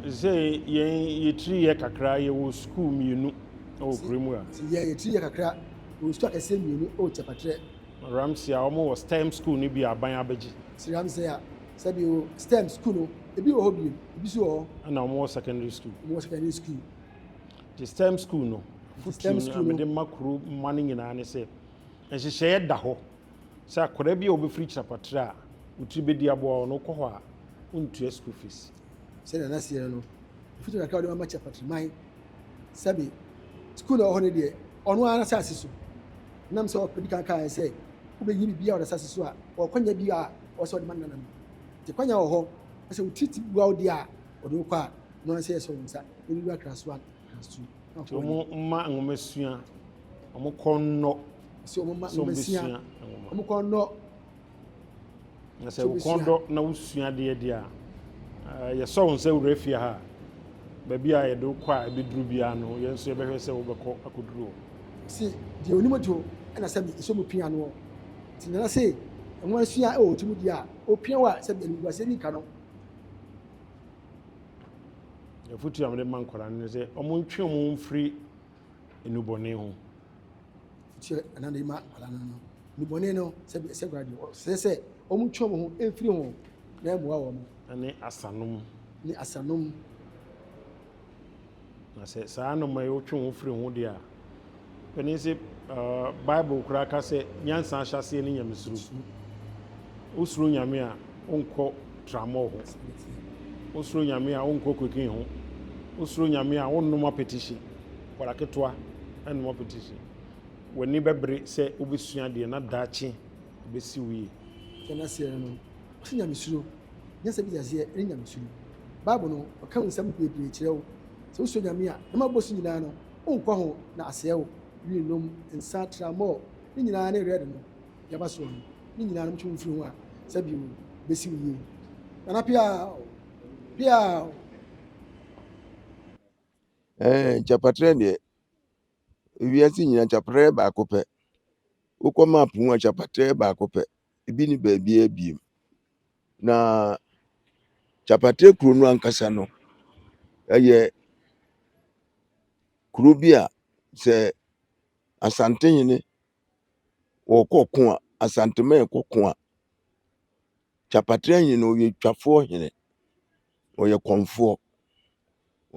Sɛ yɛn yɛtiri yɛ kakra yɛwɔ sukuu mmienu wɔ kuro mu a. Sɛ yɛn yɛtiri yɛ kakra yɛwɔ sukuu akɛseɛ mmienu wɔ kyɛfakyɛ. Ramsey a wɔwɔ STEM sukuu no bi aban abɛgye. Sir Ramsey a sɛbi o STEM sukuu no ebi wɔ hɔ bio, ebi nso wɔ hɔ. Ɛna wɔwɔ secondary sukuu. Wɔwɔ secondary sukuu. Nti STEM sukuu no fotuo no a mede ma kuro mma no nyinaa ne sɛ nhyehyɛeɛ da hɔ sɛ akwadaa bi a wɔbɛfiri Kyerɛpɔtrɛ a wɔtiri bɛdi aboa wɔn no wokɔ hɔ a wontua sukuu fees. Sɛdeɛ n'aseɛ no no, mfuturo kakra a wɔde ma ma Kyerɛpɔtrɛ man sɛbe skuul a ɔwɔ hɔ no deɛ ɔno ara n'asaase so nam sɛ ɔdi kan kaeɛ sɛ wobɛyi biribi a ɔda asaase so a ɔkwanya bi a ɔwɔ sɛ ɔde ma ne nananom nti kwanya wɔ hɔ sɛ wotiriti bua wo deɛ a ɔde wokɔ a no ara sɛ yɛsɛ wɔn nsa na wura krasoa krasu nti wɔn mma nwoma sua wɔn kɔ nnɔ sɛ wɔn mma nwoma sua wɔn kɔ nnɔ Na sɛ wo kɔn dɔ na wosua adeɛ deɛ a, yɛsɔ wo nsa wura fie ha a, baabi a yɛde wokɔ a ɛbɛduru biara no, yɛn nso yɛbɛhwɛ sɛ wobɛkɔ akɔduru hɔ. Se deɛ onim odwo na sɛbe esɔ mu pia noɔ. Nti Nana se nwa nsua wɔ otirim deɛ a, opia wo a sɛbe animguaseɛ ni ka no. Afotuo a mede ma nkwadaa no ne sɛ, wɔntwe wɔn ho mfiri nnubɔne ho. Sɛ ɛna de ma akwadaa no no, nnubɔne no sɛ sɛ akwadaa deɛ ɔsɛ sɛ wɔn twe wɔn ho mfiri ho na ɛmmoa wɔn. Ne asanom. Ne asanom. Na sɛ saa anoma yi wotwe ho firi ho deɛ a, panin sɛ Bible koraa ka sɛ nyansa ahyɛaseɛ ne nyamesuro. Wosuro nyame a. wonkɔ tramɔɔ ho. Wosuro Nyame a, wonkɔ cocaine ho. Wosuro Nyame a, wonnom apetihye. Akwadaa ketewa nnom apetihye. W'ani bɛbere sɛ wobɛsua adeɛ na daakye bɛsi wo yie. Deɛ n'aseɛ ne no, ɔse Nyamesuro. Nyansa bi de aseɛ ne Nyamesuro. Bible no, ɔka ho nsɛm bebree kyerɛ wo. Sɛ wosuro Nyame a, nnoɔma a wobɛbɔ so nyinaa no, wonkɔ ho na asɛe wo. Wii, nom, nsa, tramɔɔ, ne nyinaa ne red no. yaba soɔ no ne nyinaa no motwe mo mfiri ho a sɛ bio bɛsi wo yie nana piaa piaa eh, nkyɛpatrɛ deɛ ewiase nyina nkyɛpatrɛ baako pɛ wokɔ map mu a nkyɛpatrɛ baako pɛ ebi ne baabiaa biem na nkyɛpatrɛ kuro no ankasa no ɛyɛ kuro bi a sɛ asantehene wɔkɔ ko a, Asanteman kɔ ko a, Kyapatre Ahenni no ɔyɛ twafoɔ hene, ɔyɛ kɔmfoɔ.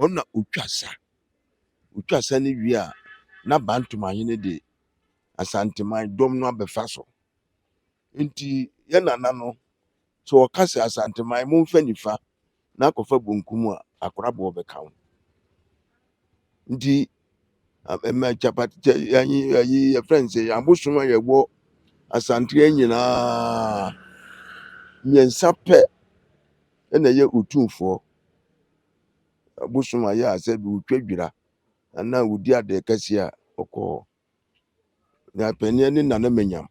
Ɔno na ɔtwa sa. Ɔtwa sa no wie a, na Bantom Ahene de Asanteman dɔm no abɛfa so. Enti yɛn nana no, sɛ wɔka sɛ Asanteman, momfa nifa na akɔfa bonkum a, akoraboɔ bɛka ho. Nti ɛma kyapatkyɛ yɛnyi ayi yɛfrɛ no sɛ yɛn abosom a yɛwɔ Asanteɛ nyinaa mmiɛnsa pɛ na ɛyɛ otumfoɔ. Abosom a yɛ a sɛ bi wotwa dwira anaa wodi adeɛ kɛseɛ a ɔkɔ hɔ. Na panin ani na na manyam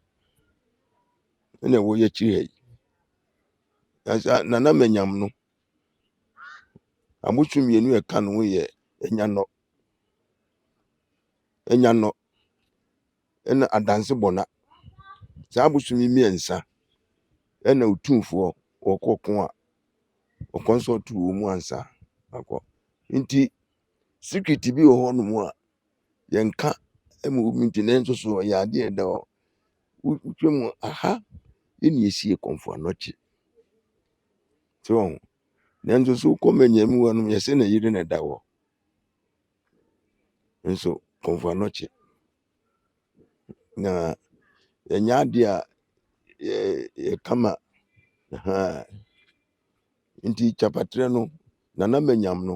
ɛna ɛwɔ yɛ akyiri ha yi na sɛ na na manyam no abosu mmienu a ɛka ne ho yɛ anyanɔ anyanɔ ɛna adanse bɔna saa abosu yi mmiɛnsa ɛna otumfoɔ ɔkɔ ko a ɔkɔnsɔlto wɔn ansa akɔ nti. Secret bi wɔ hɔ nom a yɛnka ma obi nti nanso so ɛyɛ adeɛ a ɛda hɔ wotwa mu aha ɛne ɛsi kɔmfo anɔkye so wɔn nanso so wokɔ manyami hɔ nom yɛsɛ na yere na ɛda hɔ nso kɔmfo anɔkye na ɛnyɛ adeɛ a yɛka ma nti kyapatrɛ no nana manyam no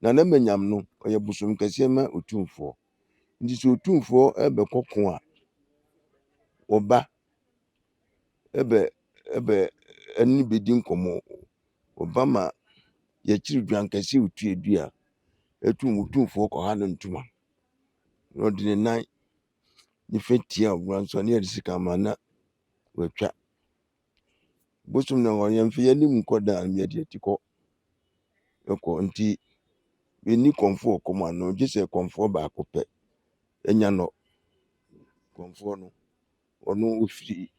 Na na Manyam no, ɔyɛ bosom kɛseɛ ma Otumfoɔ. Nti sɛ Otumfoɔ rebɛkɔ ko a, wɔba ɛbɛ ɛbɛ ɛne bɛdi nkɔmmɔ. Wɔba ma yɛkyere dwan kɛseɛ otua du a, ɛtum Otumfoɔ kɔha no ntoma. Na ɔde ne nan nifa tia ɔbra nso a, na yɛde sekan ma na watwa. bosom na wɔn yɛn fiyɛ nim kɔ da anum yɛ deɛ ti kɔ ɛkɔ nti bɛni kɔnfoɔ kɔm ano gye sɛ kɔnfoɔ baako pɛ ɛnya nɔ kɔnfoɔ no ɔno ɔfiri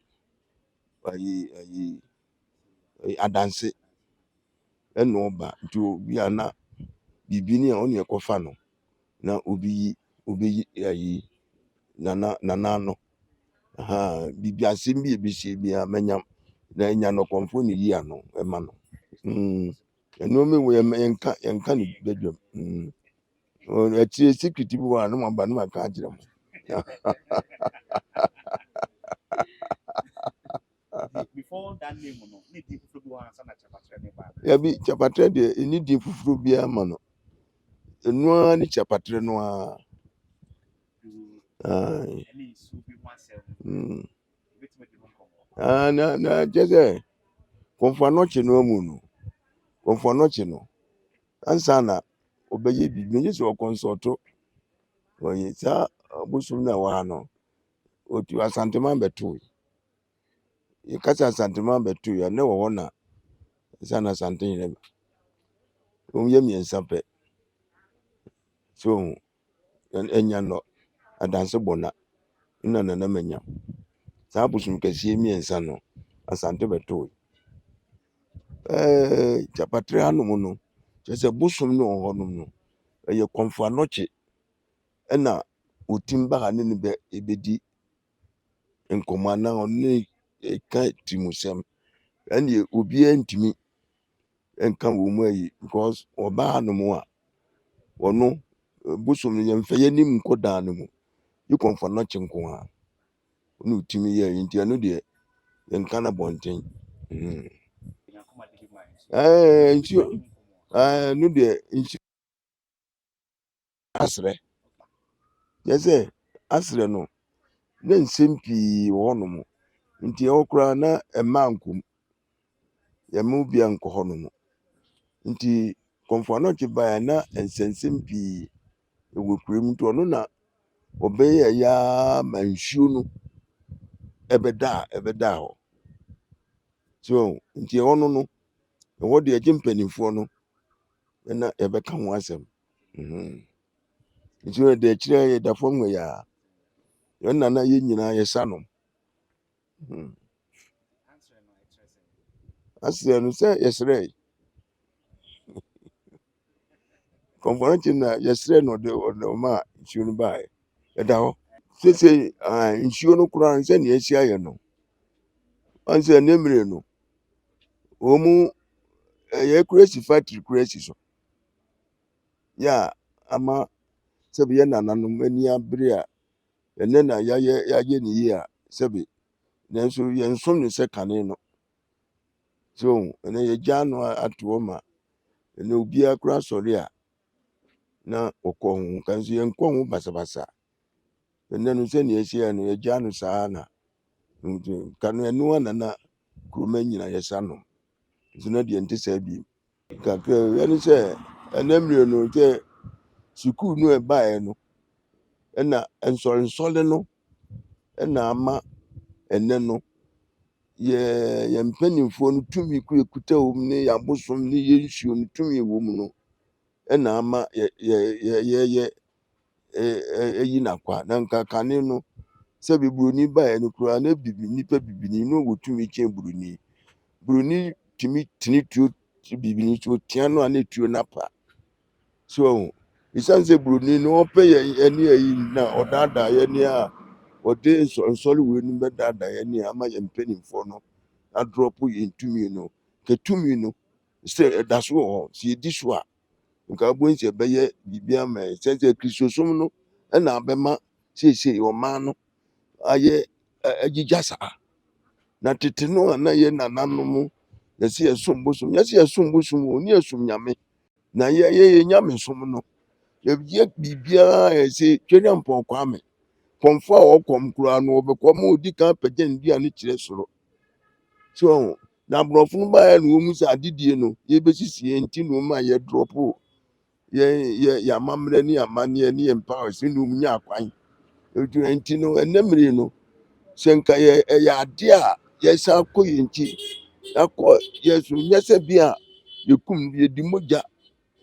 ayi ayi adanse ɛna ɔba nti obi a na biribi ni a ɔne ɛkɔfa no na obi yi obi yi ayi nana nana no ahaa bibi asɛm bi ebi si ebi a mɛnya na nya no kɔnfo ne yi ano ɛma no mm nneɛma wɔ yɛ yɛn ka yɛn ka ne badwam mm wɔn akyire sikiti bi wɔ a ne mo aba ne mo aka akyerɛ mo. Dabi, Kyapatrɛ deɛ ɛnni din foforɔ biara ma no. Ɛno ara ne Kyapatrɛ no ara. Ae. Mm. Ah, na na kyɛ sɛ kɔmfo anɔkye no amu no kɔmfo anɔkye no ansa na ɔbɛyɛ biribi gye sɛ ɔkɔnsɔɔto wɔyɛ saa bosom no a ɛwɔ ha no ɔtu asanteman bɛtoe yɛka sɛ Asantema bɛto yɛ a, na ɛwɔ hɔ na ɛsɛ na Asante nyina bi. Wɔyɛ mmiɛnsa pɛ. So hu, ɛnya nɔ, adanse bɔ na, na nana manya. Saa bosom kɛseɛ mmiɛnsa no, Asante bɛto yɛ. Ɛɛ Kyapatre hanom no, kyerɛ sɛ bosom no wɔ hɔnom no, ɛyɛ kɔmfo anɔkye ɛna wɔtim ba ha ne no bɛ ɛbɛdi nkɔmmɔ anaa ɔne no reka tirimusɛm. Ɛnneɛ obiara ntumi nka wɔn mu ayi because ɔbaa hanom a, ɔno bosom no yɛmfa yɛn anim nkɔ dan no mu. Yi kɔmfa no kye nko ara. Ɛna ɔtumi yɛ ɛyi nti ɛno deɛ yɛnka no abɔnten. Mm. Ɛɛ nsuo ɛɛ no deɛ nsuo. aserɛ. Kyerɛ sɛ aserɛ no na nsɛm pii wɔ hɔ nom. Nti ɛhɔ koraa na mmaa nkɔ mu. Wɔn mu biara nkɔ hɔ nom. Nti Komfo Anokye baeɛ a na nsɛnsɛm pii wɔ kuro mu. Nti ɔno na ɔbɛyɛɛ araa ma nsuo no bɛdaa bɛdaa hɔ. So nti ɛhɔ no no, ɛhɔ deɛ gye mpaninfoɔ no. ɛna yɛbɛka ho asɛm mhm. nti yɛ da akyirɛ yɛda fam wɔ yɛ a yɛn nana yɛ nyinaa yɛsa nom mhm. aserɛ no sɛ yɛserɛ kɔmfɔnakyi na yɛserɛ no ɔde ɔma nsuo no baeɛ ɛda hɔ sese ahan nsuo no koraa no sɛdeɛ asi ayɛ no wahu sɛ ne mmere no wɔn mu ɛyɛ kura si factory kura si so yɛ a ama sɛbi yɛ nananom ani abere a ɛnɛ na yɛayɛ yɛayɛ ne yie a sɛbi nanso yɛn som ne sɛ kane no so ɛnɛ yɛgya no ato hɔ ma ɛnɛ obiara kura sɔre a na wɔkɔ ho nkanso yɛn kɔ ho basabasa ɛnɛ no sɛ nea ɛsi yɛ no yɛgyaa no saa na nka no ɛno ana na kuroma nyina yɛsa nom nso na deɛ nte saa bi kakra ɛne sɛ ɛnɛ mmerɛ no sɛ sukuu no ɛbaeɛ no ɛna nsɔrensɔre no ɛna ama ɛnɛ no yɛn mpanimfoɔ no tumi kuta wɔn mu ne yɛn abosom ne yɛn nsuo no tumi wɔ mu no na ama yɛ yɛ yɛyɛ ayi no akwa na nka kane no sɛ Buronin baeɛ no koraa na bibi nnipa bibini na ɔwɔ tumi kyɛn Buroni Buroni tumi tene tuo bibini so ɔtia no a na tuo no apa So wahu? Esiane sɛ buroni no ɔpɛ yɛn ne ayi na ɔdaadaa yɛn ne a ɔde nsɔrensɔre wei no bɛdaadaa yɛn ne ama yɛn mpanimfoɔ no adrɔpo yɛn tumi no ka tumi no sɛ ɛda so wɔ hɔ sɛ yɛdi so a nka abɔn sɛ ɛbɛyɛ biribi ama yɛn sɛ sɛ kristosom no ɛna abɛma seesei ɔman no ayɛ agyigya saa na tete no a na yɛ nananom yɛsɛ yɛsom bosom yɛsɛ yɛsom bosom o ne yɛsom nyame na yɛyɛ yɛn nyamesom no yɛyɛ biribiara a ɛsɛ twɛdɛ mpɔn kwame kɔmfo a ɔkɔm koraa no ɔbɛkɔ ma odi kan pɛgya ne dua no kyerɛ soro so ɔho na aborɔfo no baeɛ na wɔn mu sɛ adedie no yɛbɛsisi yɛn ti na wɔn ma yɛdrɔpo yɛn yɛ yɛn amammerɛ ne yɛn amanneɛ ne yɛn mpae sɛ na wɔn nya akwan Ɛduru nti no, ɛnnɛ mmerɛ yi no, sɛ nka yɛ ɛyɛ adeɛ a yɛsan kɔ yɛn nkyi na kɔ yɛn so nyɛ sɛ bi a yɛkum no yɛdi mogya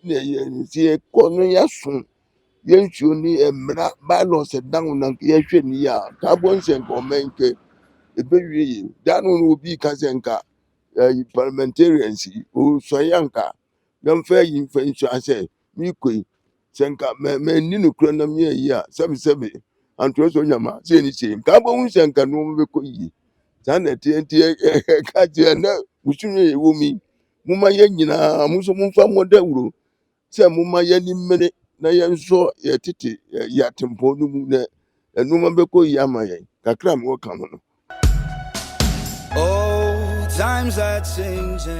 na ɛyɛ nti yɛkɔ no yɛaso yɛn nsuo ne mmara bylaws ɛda ho na yɛhwɛ no yie a ka bɔ nsɛ nka ɔman kɛ ɛbɛwie yie da no no obi ka sɛ nka eh, parliamentarians yi ɔsɔe anka na mfa eyi mfa nhyira sɛ merekɔ yi. Sɛ nka manni nokorɛ na meyɛɛ yi a, sɛbesɛbe antorɔ sɛ ɔnya ma sei ne sei. Nka wobɛhu sɛ nka nneɛma bɛkɔ yie. Saa na ɛteɛ nti ɛka kyerɛ na musu no yɛ wɔ mu yi. Momma yɛn nyinaa mo nso momfa mmɔ dawuro sɛ momma yɛn ani mmere na yɛn nso yɛtete yɛ atempɔn no mu na nneɛma bɛkɔ yie ama yɛn kakra a mewɔ ka ho no.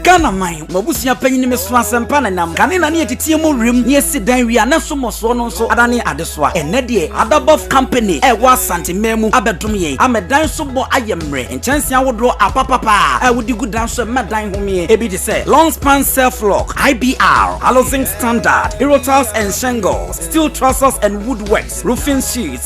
Ghana man, m'abusua panyin me so asɛmpa na nam kane na ne yɛteteɛ mu wiem ne yɛsi dan wie a na so mmɔsoɔ no nso adane adesoa. Ɛnnɛ deɛ Adabɔf Company a ɛwɔ Asante man mu abɛdom yɛn ama dan so bɔ ayɛ mmerɛ. Nkyɛnse ahodoɔ apapapa a wode gu dan so ɛma dan homee. Ebi te sɛ long span self lock, IBR, Halozinc standard, Hero tiles and shingles, steel trusses and wood works, roofing sheets,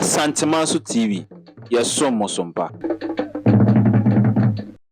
Asantemanso TV, yɛsom mo so mpa.